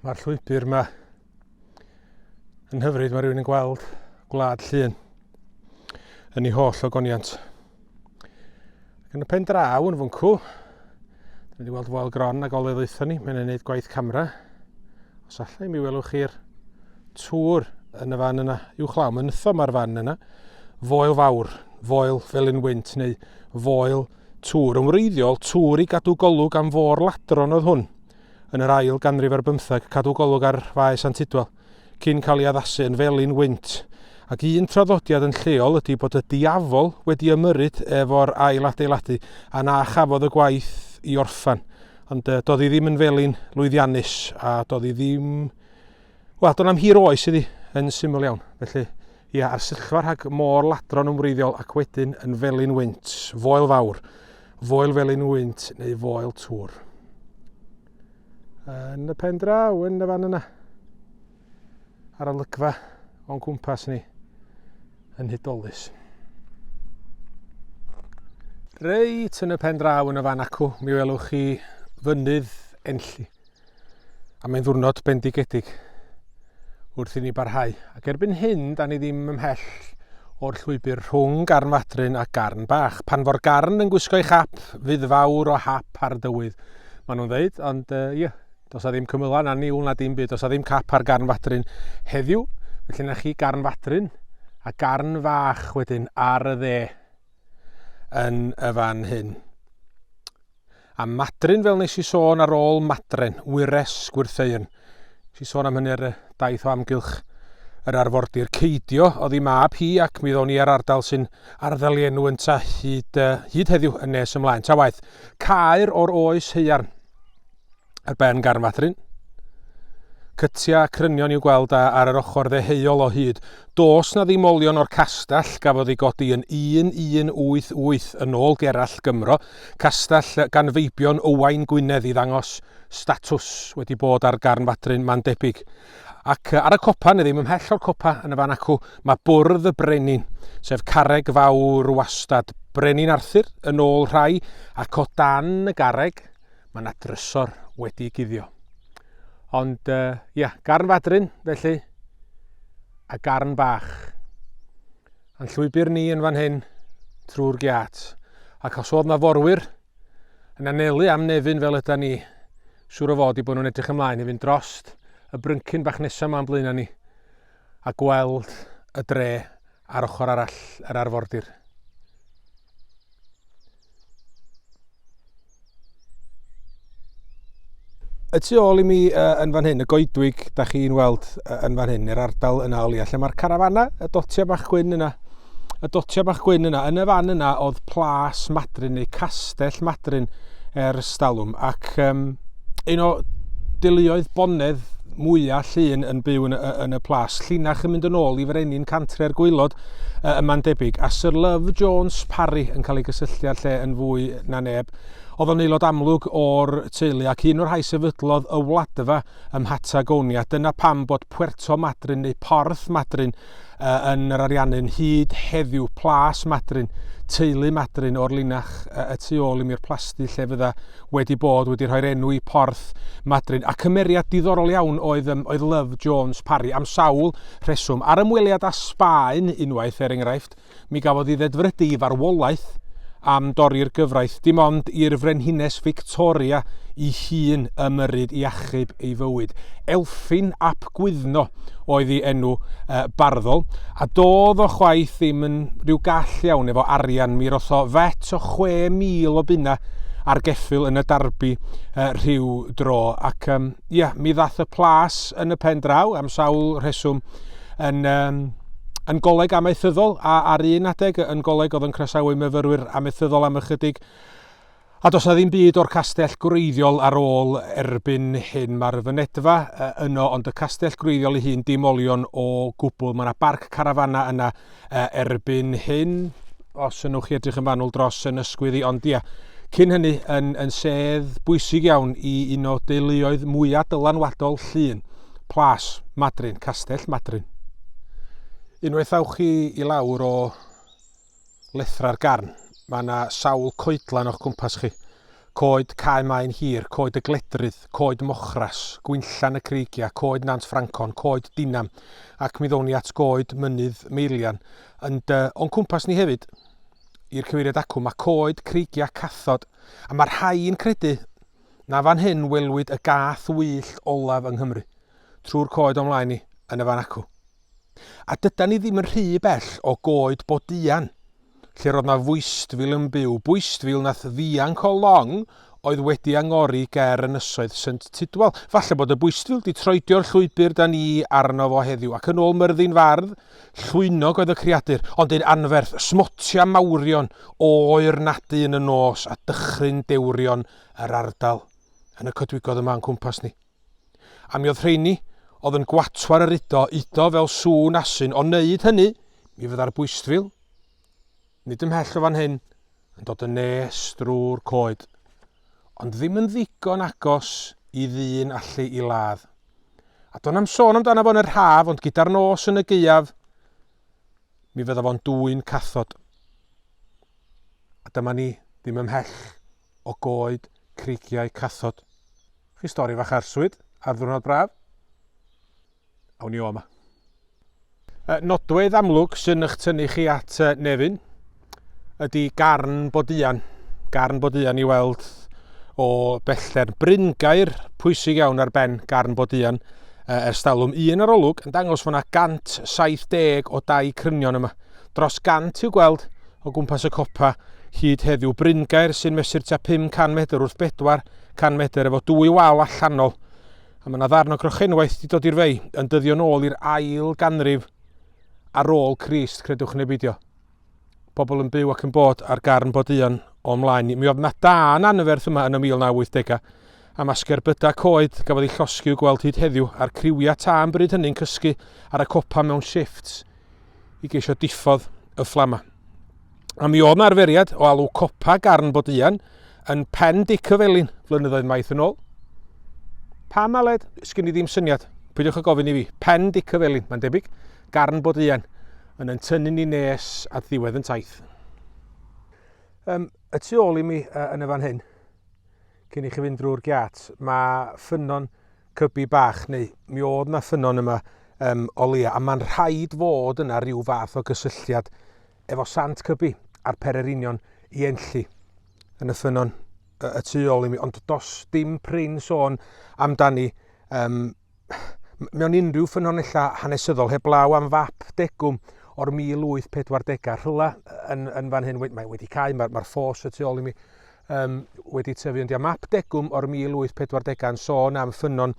Mae'r llwybr yma yn hyfryd, mae rhywun yn gweld gwlad llun yn ei holl ogoniant. Yn y pen draw yn fwncw, dyn wedi weld foel gron a golydd oethon ni, mae'n gwneud gwaith camera. Os allai mi welwch chi'r tŵr yn y fan yna, i'w chlaw, mae'n nytho mae'r fan yna, foel fawr, foel fel yn wynt neu foel tŵr. Yn wreiddiol, tŵr i gadw golwg am fôr ladron oedd hwn. yn yr ail ganrif ar bymtheg, cadw golwg ar Faes Antidwal, cyn cael ei addasu yn felin wynt. Ac un traddodiad yn lleol ydy bod y diafol wedi ymyrryd efo'r ail adeiladu a na chafodd y gwaith i orffan. Ond uh, doedd hi ddim yn felin lwyddiannus a doedd hi ddim... Wel, do'n am hir oes iddi, yn syml iawn. Felly, Ia, a'r syrchfa rhag môr ladron yn wreiddiol ac wedyn yn felin wynt, foel fawr, foel felin wynt neu foel tŵr. Yn y pen draw, yn y fan yna, ar y lygfa o'n cwmpas ni, yn hudolus. Reit yn y pen draw yn y fan acw, mi welwch chi fynydd enlli. A mae'n ddwrnod bendigedig wrth i ni barhau. Ac erbyn hyn, da ni ddim ymhell o'r llwybr rhwng garn fadryn a garn bach. Pan fo'r garn yn gwisgo'i chap, fydd fawr o hap ar dywydd, maen nhw'n dweud, ond uh, ie, yeah, dos a ddim cymylau na niwl na dim byd, dos a ddim cap ar garn fadryn heddiw, felly na chi garn fadryn a garn fach wedyn ar y dde yn y fan hyn. Am Madryn, fel nes i sôn ar ôl Madren, Wyres, Gwyrtheuyn. Nes i sôn am hynny ar y daith o amgylch yr arfordir Ceidio oedd ei mab hi ac mi ddown i ar ardal sy'n arddel ei enw ynta hyd, uh, hyd heddiw yn nes ymlaen. Ta waeth, caer o'r oes heiarn. ar ben Garnfathryn. Cytia crynion i'w gweld a ar yr ochr ddeheuol o hyd. Dos na ddim olion o'r castell gafodd ei godi yn 1188 yn ôl Gerallt Gymro, castell gan feibion Owain Gwynedd i ddangos statws wedi bod ar Garnfathryn ma'n debyg. Ac ar y copa, neu ddim ymhell o'r copa yn y fan acw, mae bwrdd y brenin, sef carreg fawr wastad, brenin Arthur yn ôl rhai, ac o dan y garreg Mae yna drysor wedi guddio. Ond, uh, ia, garn fadrin, felly, a garn bach. A'n llwybr ni yn fan hyn, trwy'r giat. Ac os oedd na forwyr yn anelu am nefyn fel yda ni, siŵr o fod i bod nhw'n edrych ymlaen i fynd drost y bryncyn bach nesaf ma'n blaen ni a gweld y dre ar ochr arall yr arfordir. Y tu ôl i mi uh, yn fan hyn, y goedwig, da chi'n weld uh, yn fan hyn, yr ardal yna o leia, lle mae'r carafana, y dotia bach gwyn yna, y dotia bach gwyn yna, yn y fan yna oedd plas madryn neu castell madryn er ystalwm, ac um, un o deuluoedd bonedd mwyaf llun yn byw yn, yn y plas. Llinach yn mynd yn ôl i frenin cantre'r gweilod uh, yma'n debyg, a Sir Love Jones Parry yn cael ei gysylltu â'r lle yn fwy na neb. Oedd o'n aelod amlwg o'r teulu ac un o'r rhai sefydlodd y wladfa ym Mhatagoni, a dyna pam bod Puerto Madryn neu Porth Madryn uh, yn yr Ariannin hyd heddiw plas Madryn, teulu Madryn o'r linach uh, y tu ôl i mi'r plasty lle fydda wedi bod wedi rhoi'r enw i porth Madryn. A cymeriad diddorol iawn oedd, um, oedd Love Jones Parry am sawl rheswm. Ar ymweliad â Sbaen unwaith er enghraifft, Mi gafodd i ddedfrydu i farwolaeth am dorri'r gyfraith, dim ond i'r Frenhines Victoria i hun ymyrryd i achub ei fywyd. Elfyn ap Gwyddno oedd ei enw uh, barddol, a doedd o chwaith ddim yn rhyw gall iawn efo arian. Mi rotho fet o 6,000 o bunna ar geffyl yn y darbi uh, rhyw dro, ac um, ia, mi ddath y plas yn y pen draw am sawl rheswm, yn um, yn goleg amaethyddol a ar un adeg yn goleg oedd yn croesawu myfyrwyr amaethyddol am ychydig a does na ddim byd o'r castell gwreiddiol ar ôl erbyn hyn. Mae'r fynedfa yno ond y castell gwreiddiol ei hun dim olion o gwbl. Mae yna barc carafana yna Erbyn hyn, os ynwch chi edrych yn fanwl dros yn ysgwydd i, ond ia, cyn hynny yn, yn sedd bwysig iawn i un o deuluoedd mwyaf dylanwadol llun, Plas Madryn, Castell Madryn. Unwaith awch chi i lawr o lethrau'r garn, mae yna sawl coedlan o'ch cwmpas chi. Coed Cae Maen Hir, Coed y Gledrydd, Coed Mochras, Gwinllan y Creigiau, Coed Nant Ffrancon, Coed Dinam, ac mi ddown ni at Goed Mynydd Meirian, ond uh, o'n cwmpas ni hefyd, i'r cyfeiriad acw, mae coed creigiau cathod, a mae rhai yn credu na fan hyn welwyd y gath wyllt olaf yng Nghymru, trwy'r coed o'm mlaen ni, yn y fan acw. A dydan ni ddim yn rhy bell o goed Bodeuan, lle'r oedd 'na fwystfil yn byw, bwystfil nath ddianc o long oedd wedi angori ger ynysoedd Synt Tudwal. Falle bod y bwystfil 'di troedio'r llwybr 'da ni arno fo heddiw, ac yn ôl Myrddin Fardd, llwynog oedd y creadur, ond un anferth, smotia mawrion o oer nadu yn y nos a dychryn dewrion yr ardal yn y coedwigoedd yma o'n cwmpas ni. A mi oedd rheini oedd yn gwatwar yr udo, udo fel sŵn asyn, o wneud hynny, mi fydda'r bwystfil, nid ymhell o fan hyn, yn dod yn nes drwy'r coed, ond ddim yn ddigon agos i ddyn allu i ladd. A do'n am sôn amdano fo'n yr haf, ond gyda'r nos yn y gaeaf, mi fydda fo'n dwy'n cathod. A dyma ni, ddim ymhell o goed creigiau cathod. Chi stori fach arswyd ar ddwrnod braf? Awn ni o yma. Nodwedd amlwg sy'n eich tynnu chi at Nefyn ydy garn boduan. Garn boduan i weld o bellter. Bryn gair pwysig iawn ar ben garn boduan ers talwm. Un arolwg yn dangos fod yna 170 o dau crynion yma. Dros 100 i'w gweld o gwmpas y copa hyd heddiw. Bryngaer sy'n mesur tua 500 medr wrth 400 medr efo dwy wal allanol. A mae yna ddarn o grochenwaith wedi dod i'r fei yn dyddio nôl i'r ail ganrif ar ôl Crist, credwch neu beidio. Pobl yn byw ac yn bod ar garn bod un o mlaen ni. Mi oedd na da yn anferth yma yn y 1980au, a masger byda coed gafodd ei llosgi i'w gweld hyd heddiw, a'r criwiau ta yn bryd hynny'n cysgu ar y copa mewn shifts. i geisio diffodd y fflamau. A mi oedd yna arferiad o alw copa garn bod ian yn pen dic y felin flynyddoedd maith yn ôl. Pa maled? Sgyn i ddim syniad. Pwydiwch y gofyn i fi. Pen dic y felin, mae'n debyg. Garn bod ian yn yn tynnu ni nes at ddiwedd yn taith. Um, y tu ôl i mi uh, yn y fan hyn, Cyn i chi fynd drwy'r giat, mae ffynnon cybi bach, neu mi oedd na ffynnon yma um, o leia, a mae'n rhaid fod yna rhyw fath o gysylltiad efo sant cybi a'r pererinion i enlli yn y ffynnon y, y tu ôl i mi, ond dos dim prin sôn amdani um, mewn unrhyw ffynonellau hanesyddol heblaw am fap degwm o'r 1840au rhywle yn, yn fan hyn, mae wedi cael, mae'r mae ffos y tu ôl i mi um, wedi tyfu, ond ia, map degwm o'r 1840au yn sôn am ffynon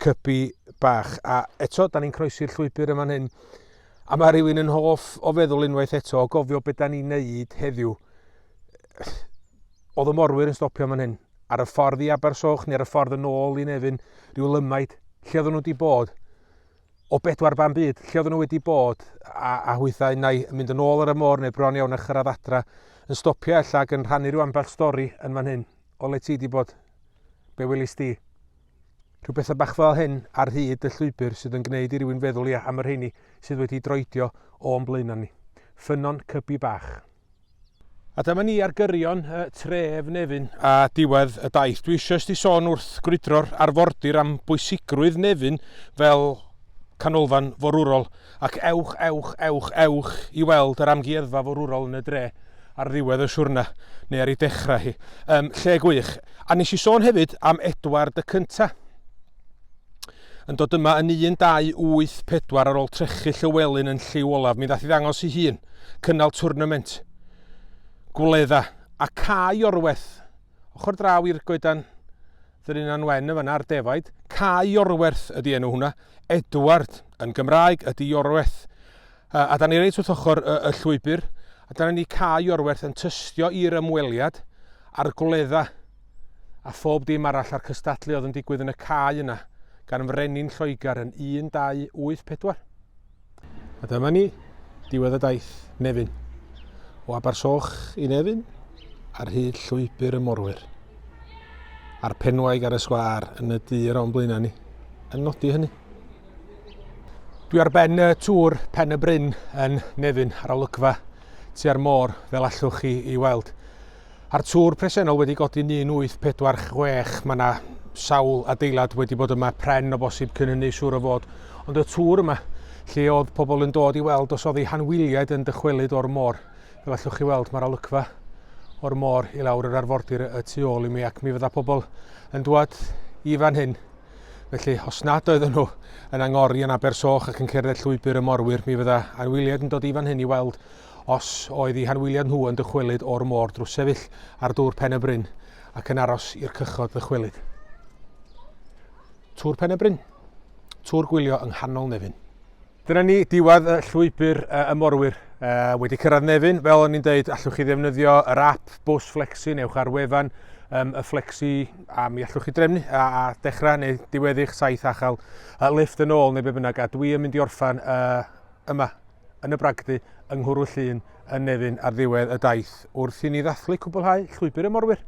cybi bach. A eto, da ni'n croesi'r llwybr yma hyn, a mae rhywun yn hoff o feddwl unwaith eto, o gofio beth da ni'n neud heddiw. Oedd y morwyr yn stopio yma hyn. ar y ffordd i Abersoch neu ar y ffordd yn ôl i Nefyn, rhyw lymaid, lle oedden nhw wedi bod, o bedwar ban byd, lle oedden nhw wedi bod, a, a hwythau nai yn mynd yn ôl ar y môr neu bron iawn a chyrraedd adra, yn stopio ella ac yn rhannu rhyw ambell stori yn fan hyn, o le ti wedi bod, be welis di. Rhyw bethau bach fel hyn ar hyd y llwybr sydd yn gwneud i rywun feddwl ia am yr heini sydd wedi droedio o'n blaenau ni. Ffynnon cybi bach. A dyma ni ar gyrion y tref Nefyn. A diwedd y daith. Dwi eisiau sti sôn wrth grwydro'r arfordir am bwysigrwydd Nefyn fel canolfan forwrol, ac ewch, ewch, ewch, ewch i weld yr amgueddfa forwrol yn y dre ar ddiwedd y siwrna, neu ar ei dechrau hi. Yym, lle gwych. A nes i sôn hefyd am Edward y Cynta. yn dod yma yn 1-2-8-4 ar ôl trechu Llywelyn yn lliw olaf. Mi ddath i ddangos ei hun, cynnal twrnament, gwledda, a cae orwerth. Ochr draw i'r goedan Ddyninan Wen yn fanna ar defaid. Cae orwerth ydy enw hwnna. Edward yn Gymraeg ydy orwerth. A da ni reit wrth ochr y, y llwybr, a dyna ni cae orwerth yn tystio i'r ymweliad a'r gwledda a phob dim arall a'r cystadlu oedd yn digwydd yn y cae yna gan frenin Lloegr yn 1284. A dyma ni, diwedd y daith, Nefyn. O Abersoch i Nefyn, ar hyd llwybr y morwyr. A'r penwaig ar y sgwar yn y dyr o'n blaenau ni, yn nodi hynny. Dwi ar ben y tŵr Pen y Bryn yn Nefyn ar olygfa tua'r môr fel allwch chi i weld. A'r tŵr presennol wedi godi 1846, mae yna sawl adeilad wedi bod yma pren o bosib cyn hynny siŵr o fod, ond y tŵr yma lle oedd pobl yn dod i weld os oedd ei hanwyliaid yn dychwelyd o'r môr. Fel allwch chi weld mae'r olygfa o'r môr i lawr yr arfordir y tu ôl i mi ac mi fydda pobl yn dwad i fan hyn Felly, os nad oedden nhw yn angori yn Abersoch ac yn cerdded llwybr y morwyr, mi fydda anwyliad yn dod i fan hyn i weld os oedd i hanwyliad nhw yn dychwelyd o'r môr drwy sefyll ar dŵr Pen y Bryn ac yn aros i'r cychod ddychwelyd. Tŵr Pen y Bryn. Tŵr gwylio yng nghanol Nefyn. Dyna ni, diwedd y llwybr y morwyr. wedi cyrraedd Nefyn, fel o'n i'n dweud, allwch chi ddefnyddio yr app Bws Flexi, newch ar wefan um, y Flexi, a mi allwch chi drefnu a, a dechrau neu diweddu'ch saith a chael uh, lift yn ôl neu be bynnag. A dwi yn mynd i orffan uh, yma, yn y bragdy, yng Nghwrw Llun, yn Nefyn ar ddiwedd y daith, wrth i ni ddathlu cwblhau llwybr y morwyr.